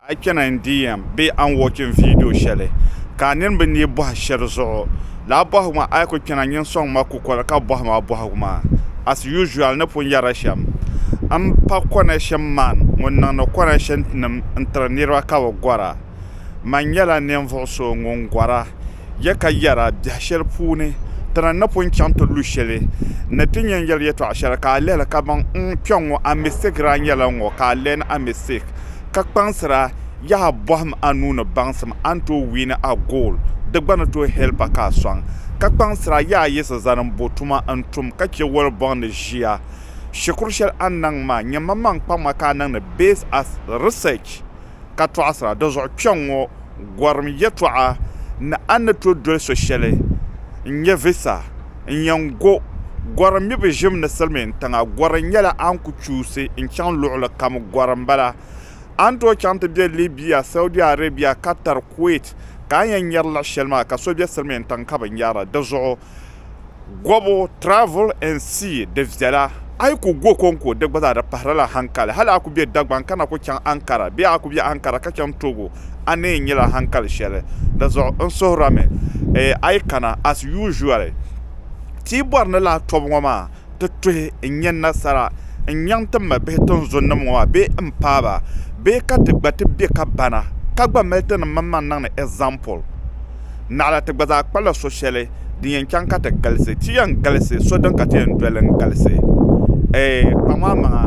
A yi kpɛna NDM bee a ni wɔchim viidiyo shɛli ka a nini bi neei bɔhi shɛli zuɣu, lala bɔhigu maa a yi ku kpɛna nyin sɔŋ ma kukoli ka bɔhi ma bɔhigu maa. As usual ni pun yɛri shɛm, m pa Konashin Man ŋun niŋdi Konashin tinim n-tiri niriba ka bɛ gɔra. Man nyɛla ninvuɣ so ŋun gɔra. ya ka yɛra biɛh shɛli puuni ti na napɔi chaŋ ti lu shɛli ni ti yɛn yɛri yɛtɔɣ shɛli ka a lihili kaman n kpɛŋŋɔ a mistake daa nyɛla n ŋɔ ka a learn a mistake ka kpaŋsira yaha a bɔhim a nuu ni baŋsim a ni tooi win a goal di gba ni tooi help a ka a sɔŋ ka kpaŋsira yaha a yiɣisi zani m bo tuma n tum ka che wali bɔŋ ni ʒiya shikuru shɛli a ni niŋ maa nyɛ manmaŋ kpaŋma ka a niŋdi based as research. ka tɔɣisira. Dinzuɣu kpɛŋŋɔ gɔrim yɛtɔɣa ni a ni tooi doli so shɛli n-nyɛ visa n-yɛn go gɔrim mibu ʒim ni silimiin tiŋa. Gɔrim nyɛla a ni ku chuusi n-chaŋ luɣili kam gɔrim m-bala. A ni tooi chaŋ ti be Libya, Saudi Arabia, Qatar, Kuwait ka a yɛn nyari luɣ shɛli maa ka so be silimiin tiŋ ka bi nyara. Dinzuɣu. gobu travel and see di viɛla a yi ku go konko di gba zaa di pahiri la hankali hali a ku be Dagban ka na ku chaŋ Ankara bee a ku be Ankara ka chaŋ Togo a ni yɛn nyɛla hankali shɛli di zuɣu n suhirami a yi kana as usually ti yi bɔri ni laa tɔbu ŋɔ maa ti tuhi n-nyɛ nasara n-nyaŋ ti mabihi tinzunnim ŋɔ maa bee m-paai ba, bee ka ti gba ti bɛ ka bana ka gba mali tinim maŋmaŋ niŋ ni ɛzampul? Naɣila ti gba zaa kpala so shɛli din yɛn chaŋ ka ti galisi. Ti yɛn galisi so din ka ti yɛn doli n-galisi. Ɛɛh, kpaŋ a maŋa,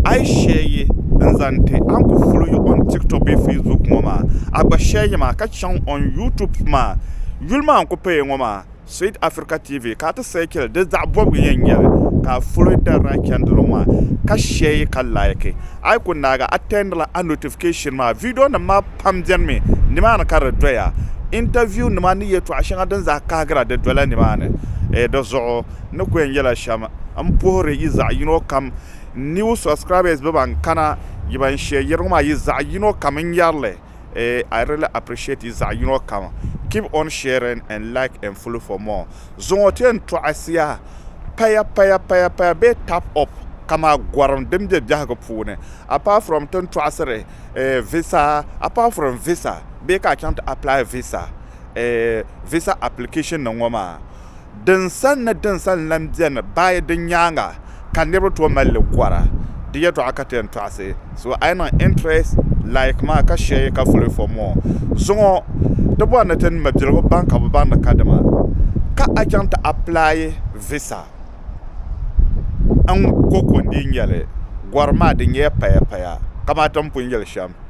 a yi shɛyiyi n-zaŋ ti a ni ku ful yi on Tiktok bee Facebook ŋɔ maa, a gba shɛyiyi ma ka chaŋ on YouTube maa. Yuli maa n-ku paya ŋɔ maa. Sweet Africa TV ka a ti sɛɛkili di zaɣ bɔbigu yɛn nyɛ li ka a foli dari daa chɛndili ŋɔ maa ka shɛi ka laiki. A yi ku naagi a attendila a notification maa. Vidiyonim maa pam benimi nimaani ka di doya. Interview nima ni yɛtɔɣ shɛŋa din zaa kahigira di dola nimaani. Di zuɣu n ni ku yɛn yɛla shɛm m puhiri yi zaɣ yino kam new subscribers bɛ ban kana yi ban shɛɛ yɛri ŋɔ maa yi zaɣ yino kam n yɛri li. eh I really appreciate yi zaɣi yinɔ kam keep on sharing and like and follow for more zuŋɔ ti yɛn tɔɣisiya paya paya paya paya bee tap up kama gɔrim din bɛ biɛhigu puuni apart from tin tɔɣisiri eh visa apart from visa bee ka a chaŋ ti apply visa eh visa application nim ŋɔ maa Dinsani ni dinsani lan beni bayi di nyaaŋa ka niriba tooi mali li gɔra. Di yɛtɔɣa ka ti yɛn tɔɣisi. So a yi niŋ interest like maa ka share ka follow for more. Zuŋɔ di bɔri ni ti ni mabiligu baŋ ka bɛ baŋ ni kadama ka a chaŋ ti apply visa n-ŋ ko ko n-dii nyɛli. Gɔri maa di nyɛya payapaya kamati m pun yɛli shɛm.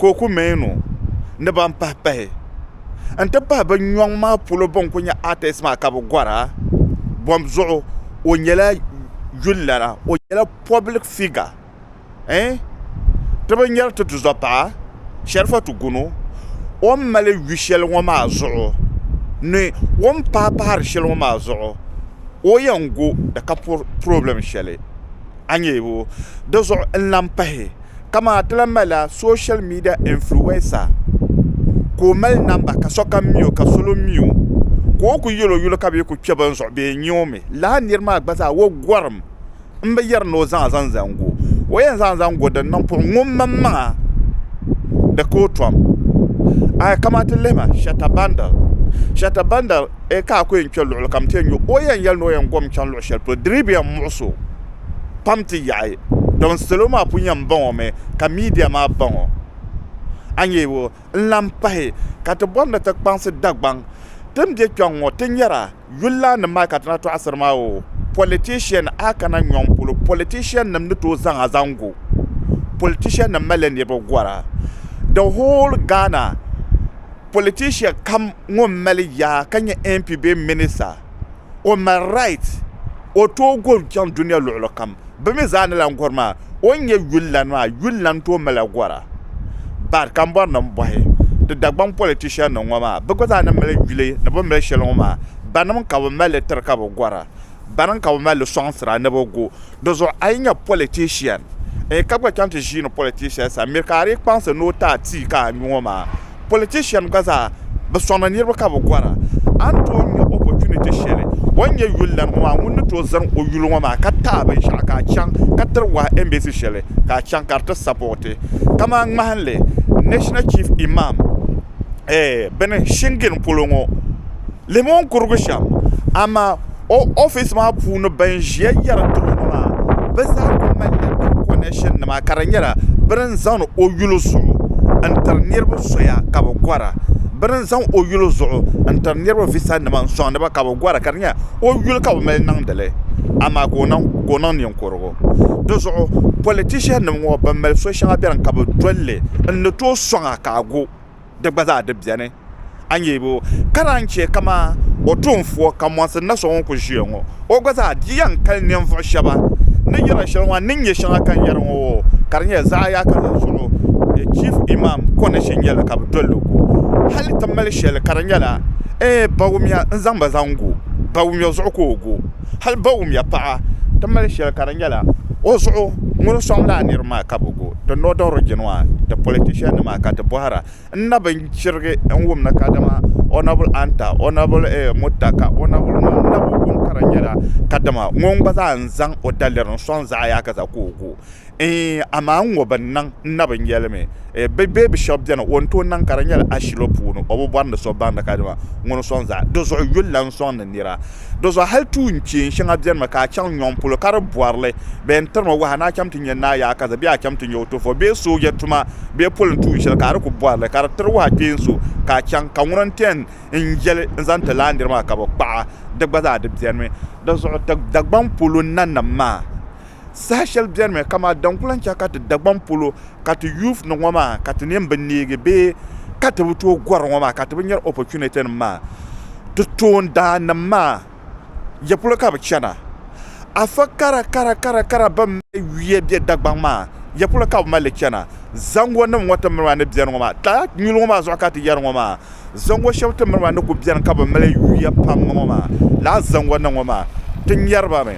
ka o ku meen o ni ban pahi pahi n-ti pahi bɛ nyɔŋ maa polo bɛn kuli nyɛ artist maa ka bɛ gɔra bɔm zuɣu o nyɛla yulilana o nyɛla public figure ɛɛn ti binyɛri ti tuzɔpaɣa Sharifatu Gunu o ni mali yu shɛli ŋɔ maa zuɣu ni o ni paai pahiri shɛli ŋɔ maa zuɣu o yɛn go di ka problem shɛli a nyɛ o di zuɣu n lahi pahi ka maa ti lahi malila soshal midia ɛnfluwɛnsa ka o mali namba ka sokam mi o ka salo mi o ka o kuli yɛli o yuli ka bee kuli kpɛ bini zuɣu bee n nyɛ o mi lala nira maa gba zaa o gorim n bi yɛri ni o zaŋ zaŋ zaŋ go o yɛn zaŋ zaŋ go din niŋ puɣi ŋun maŋmaŋa di ka o tom a yi kana ti lihima shata bandal shata bandal Ee ka a ku yɛn kpe luɣili kam nti yɛn nya o, o yɛn yɛli ni o yɛn gom chaŋ luɣ shɛli polo, di dii bi yɛn muɣis o pam ti yaɣi dɔn salo maa pun yɛn baŋ o mi ka media maa baŋ o. A nya o ni lan pahi ka ti bɔri ni ti kpaŋsi Dagbaŋ ti ni be kpɛŋ ŋɔ ti nyara yulilaannim maa ka ti na tɔɣisiri maa o politician a kana nyɔŋ polo politiciannim ni tooi zaŋ a zaŋ go politiciannim malila niriba gɔra the whole Ghana politician kam ŋɔ mali yaa ka nyɛ MP bee minister, o mali right o tooi gɔri chaŋ dunia luɣili kam. Bɛ mi zaa ni lan gɔri maa, o ni nyɛ yulilana maa, yulilana tooi mali gɔra. But kambɔrinim bɔhi di Dagbaŋ politiciannim ŋɔ maa, bɛ gba zaa ni mali yuli ni bɛ mali shɛli ŋɔ maa, banim ka bɛ mali li tiri ka bɛ gɔra? bɛni ka bɛ mali sɔŋsira ni bɛ gu di zuɣu. A yi nyɛ politician n ka gba chaŋ ti ʒii ni politician sani mi ka a di kpaŋsi ni o ti a tii ka a nyu o maa. Politician gba zaa bɛ sɔŋ ni niriba ka bɛ gɔra. A ni tooi nya opportunity shɛli o ni nyɛ yuli lana ŋɔ maa ŋun ni tooi zani o yuli ŋɔ maa ka ti a binshɛɣu ka a chaŋ ka tiri wahi embassy shɛli ka a chaŋ ka di ti sapooti kamani ŋmahinli National Chief Imam eh bini Shingin polo ŋɔ. Limon kurugu shɛm amaa o ofiisi maa puuni ban ʒiya yɛri diri o ŋɔ maa bɛ zaa kuli malila bɛ kɔnɛshinnima ka di nyɛla bɛ ni zaŋdi o yuli zuɣu n-tiri niriba soya ka bɛ gɔra bɛ ni zaŋ o yuli zuɣu n-tiri niriba visanima n-sɔŋdi ba ka bɛ gɔra ka di nyɛla o yuli ka bɛ mali niŋdi li amaa ka o niŋ ninkurugu di zuɣu pɔlitishiɛnnima ŋɔ ban mali so shɛŋa beni ka bɛ dol li n-ni tooi sɔŋ a ka a gu di gba zaa di beni. A nya o ka naan chɛ kaman o tuunfuo ka mɔnsi na so ŋun kul ʒiya ŋɔ. O gba zaa di yɛn kali ninvuɣ shɛba ni yɛla shɛli ŋɔ ni nyɛ shɛŋa ka n yɛri ŋɔ oo, ka di nyɛla zaɣ yaaka la zuɣu Chief Imam condition nyɛla ka bɛ dol li gu hal ti mali shɛli ka di nyɛla ee Bawumya n-zaŋ ba zaŋ gu Bawumya zuɣu ka o gu hal Bawumya paɣa ti mali shɛli ka di nyɛla o zuɣu ŋun sɔŋ lala niriba maa ka bɛ gu. di northern origin maa di politician nima ka ti bohara n na bi chirigi n wumna kadama onabul anta onabul mutta ka n na bi wum ka di nyɛla kadama ŋun gba zaa n zaŋ o daliri n soŋ zaɣ yaha ka chɛ ka o gu amaa n ŋɔ bi niŋ n na bi nyɛli mi bi bee bi shab biɛni o ni tooi niŋ ka di nyɛla ashili puuni o bi bori ni so baŋdi kadama ŋuni n soŋ zaɣ yini di zuɣu yulila n soŋdi nira Dɔzuɣu hal tuun kpeen shɛŋa bɛnimi ka a chaŋ nyɔŋ polo ka di bɔrili bɛ yɛn tirimi waha ni a cham ti nya naa yaakaza bee a cham ti nya o tɔfɔ bee sooja tuma bee polin tuun shɛli ka a di ku bɔrili ka di tiri waha kpeen so ka a chaŋ ka ŋuna n-ti yɛn n yɛli n zaŋ ti laandiri maa ka bɛ kpaɣi di gba zaa di bɛnimi. Dɔzuɣu Dagbaŋ polo nanim maa. Saha shɛli benimi ka maa daŋ kulaŋ chɛ ka ti Dagbaŋ polo ka ti youth ni ŋɔ maa ka ti nin bi neegi bee ka ti bi tooi gɔri ŋɔ maa ka ti bi nyari opportunity nim maa. Ti toon daa nim maa ya polo ka bi chana? Afa kara kara kara kara bɛn mali yuya be Dagbaŋ maa ya polo ka bi mali li chana? Zango nim ŋɔ ti miri maa ni beni ŋɔ maa, lala nyuli ŋɔ maa zuɣu ka ti yari ŋɔ maa. Zaŋɔ shɛba ti miri maa ni ku beni ka bɛ mali yuya pam ŋɔ maa, lala zaŋɔ ni ŋɔ maa ti nyari ba mi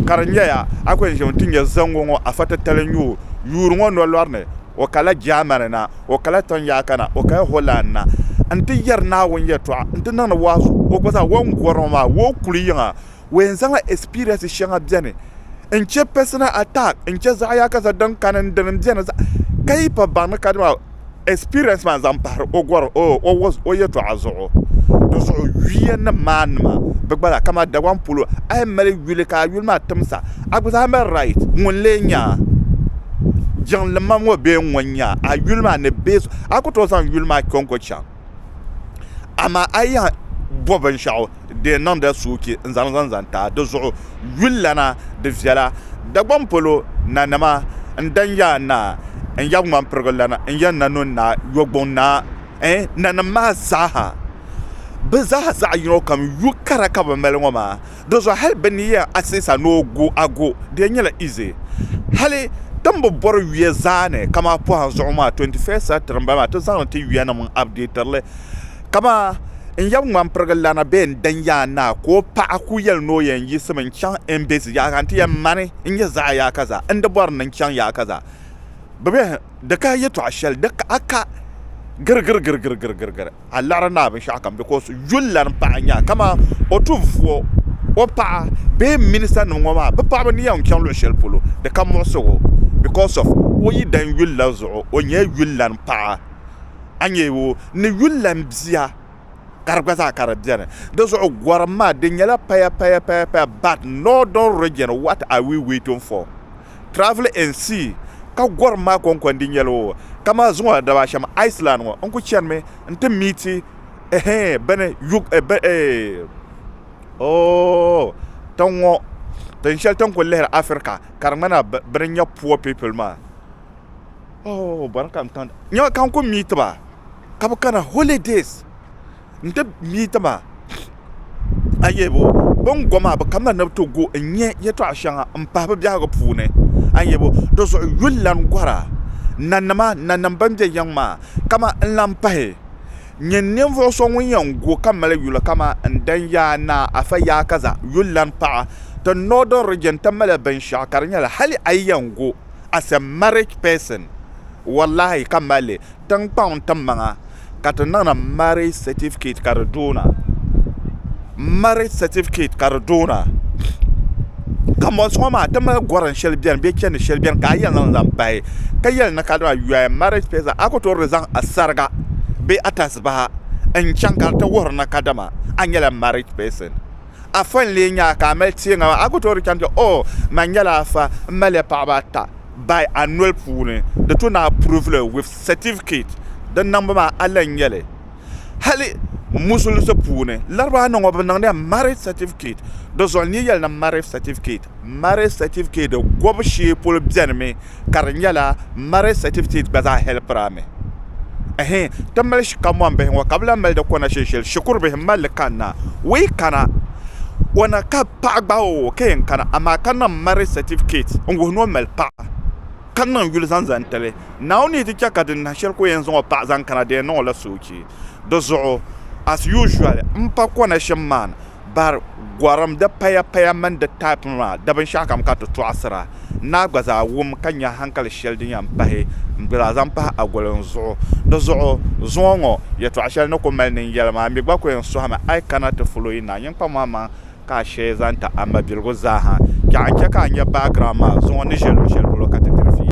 ka di nyɛya a kuli ʒimi ti nya zaŋɔ ŋɔ afa titali n-nyɛ o yuuri ŋɔ nolɔri ni, o kala Germany na, o kala Tɔnyaaka na, o kaya Holland na n-ti yɛri Naawuni yɛtɔɣa n-ti niŋdi waasuɣu, o gba zaa o ni gɔri ŋɔ maa o kuli yiŋa. We n zaŋla experience shɛŋa bɛni n chɛ personal attack n chɛ zaɣiyaka za din kani n dini bɛni zaɣ ka yi pa baŋ ni ka dima experience maa zaŋ pahiri o gɔri o o o yɛtɔɣa zuɣu di zuɣu yuya nim maa nima bɛ gba la kama Dagbaŋ polo a yi mali yuli ka a yuli maa timsa a gba zaa mali right ŋun lee nya jiŋli mam ŋɔ bee ŋun nya a yuli maa ni bee a ku tooi zaŋ yuli maa kpe n ku chaŋ amaa a yi yɛn bo binshɛɣu di yɛn niŋdila soochi n-zaŋ li zaŋ taai di zuɣu yulilana di viɛla Dagbaŋ polo nanima n-dan ya a naa n-ya Ŋmanpirigu-lana n-ya Nanun naa Yɔgbun naa ɛɛh nanim maa zaa ha bɛ zaa zaɣ yino kam yu kara ka bɛ mali ŋɔ maa Di zuɣu hali bɛ ni yɛn aseesa ni o gu a gu di yɛn nyɛla ize. Hali tin bi bɔri yuya zaa ni kamaa pɔhim zuɣu maa 21st century m-bala maa ti zaŋ li ti yuyanim n-updater li kamaa n yab ŋman pirigi lana bee n dan yaan naa ka o paɣa kul yɛli ni o yɛn yiɣisimi n-chaŋ Embesi yaɣa ka n ti yɛn mani n-nyɛ zaɣ yaakaza n-di bɔri ni n chaŋ yaakaza. Bɛ bɛhi. Di ka yɛtɔɣ shɛli, di ka a ka girigirigirigirigiri a liɣiri naa binshɛɣukam, bikos yulilana paɣa n-nyɛ a, kaman o tuhi vuo, o paɣa bee m ministanim ŋɔ maa, bɛ paɣaba ni yɛn n-chaŋ luɣ shɛli polo, di ka muɣisig o, bikos of o yidana yulila zuɣu, o nyɛla yulilana paɣa, a nya o ni yulilana bia, ka di gba zaa ka di beni. Dizuɣu gɔrim maa, di nyɛla payapayapaya, but northern region what are we waiting for? Travel and See ka gɔrim maa kɔŋkɔndi nyɛl o, ka maa zuŋɔ la daba shɛm Iceland ŋɔ n ku chanimi nti miiti eeh bɛni yug eh bɛ eeh ooh tiŋ ŋɔ tin shɛli ti ni ku lihiri Africa ka di ŋmana bɛ ni nya poor people maa ooh bɔri ka n kani nya ka n ku miiti ba ka bɛ kana holidays n ti mii ti ma a ni yɛli bo bi ni go maa bi kamina ni bi ti go n nyɛ yɛltɔɣa shɛŋa n pahi bi biɛhigu puuni a ni yɛli bo dizuɣu yulilana gɔra nanima nanim ban bɛ yiŋ maa kamani n lahi pahi nyɛ ninvuɣu so ŋun yɛn go ka mali yuli kamani n danyaa naa afa yaa kaza yulilana paɣa ti northern region ti mali binshaɣu ka di nyɛla hali a yi yɛn go as a married person wallaahi ka mali li tiŋkpaŋ n tim maŋa ka ti niŋdi marriage certificate ka di doona marriage certificate ka di doona kanbonsi ŋo maa ti mali gorim shɛli biɛni bee chɛndi shɛli biɛni ka a yɛn zaŋ zaŋ pahi ka yɛli ni ka dama you are a married person a ku toori zaŋ a sariga bee a tasibaha n chɛŋ ka di ti wuhuri ni kadama a nyɛla married person Afa n-lee nya a ka a mali teeŋa maa? A ku tooi di chaŋ ti o, Man nyɛla afa, m maliya paɣiba ata bayi a noli puuni. Di tu ni a proved li with certificate. Di niŋbu maa a lan nya li hali Musulisi puuni. Larabaannima ŋɔ bɛ niŋdiya marriage certificate. Di zuɣu n ni yɛli ni marriage certificate. Marriage certificate gɔbu shee polo benimi ka di nyɛla marriage certificate gba zaa helpiri a mi ɛhɛn ti mali shikamɔni bihi ŋɔ ka bi lahi mali di kɔna shinshili shikuru bihi mali li kanna wee kana o na ka paɣa gbahi o ka yɛn kana amaa ka niŋ marriage certificate n wuhi ni o mali paɣa ka niŋ yuli zaŋ zaŋ tili naawuni yi ti chɛ ka din nahi shɛli ka o yɛn zaŋ o paɣa zaŋ kana di yɛn niŋ o la soochi di zuɣu as usual m pa kɔna shim maa ni bari gɔrim di paya paya mini di taipinima di binshɛɣu kam ka ti tɔɣisira. N naa gba zaa wum ka nya hankali shɛli din yɛn pahi m-bela zaŋ pahi Agolin zuɣu. Di zuɣu zuŋɔ ŋɔ yɛtɔɣ shɛli ni ku mali nini yɛli maa, mi gba ku yɛn sɔhimi a yi kana ti ful o yi naa nyiŋkpamɔmaŋ ka a sheei zaŋ ti a mabiligu zaa ha. Chɛ a ni chɛ ka a nya background maa zuŋɔ n ni ʒe luɣ shɛli polo ka ti diri fiila.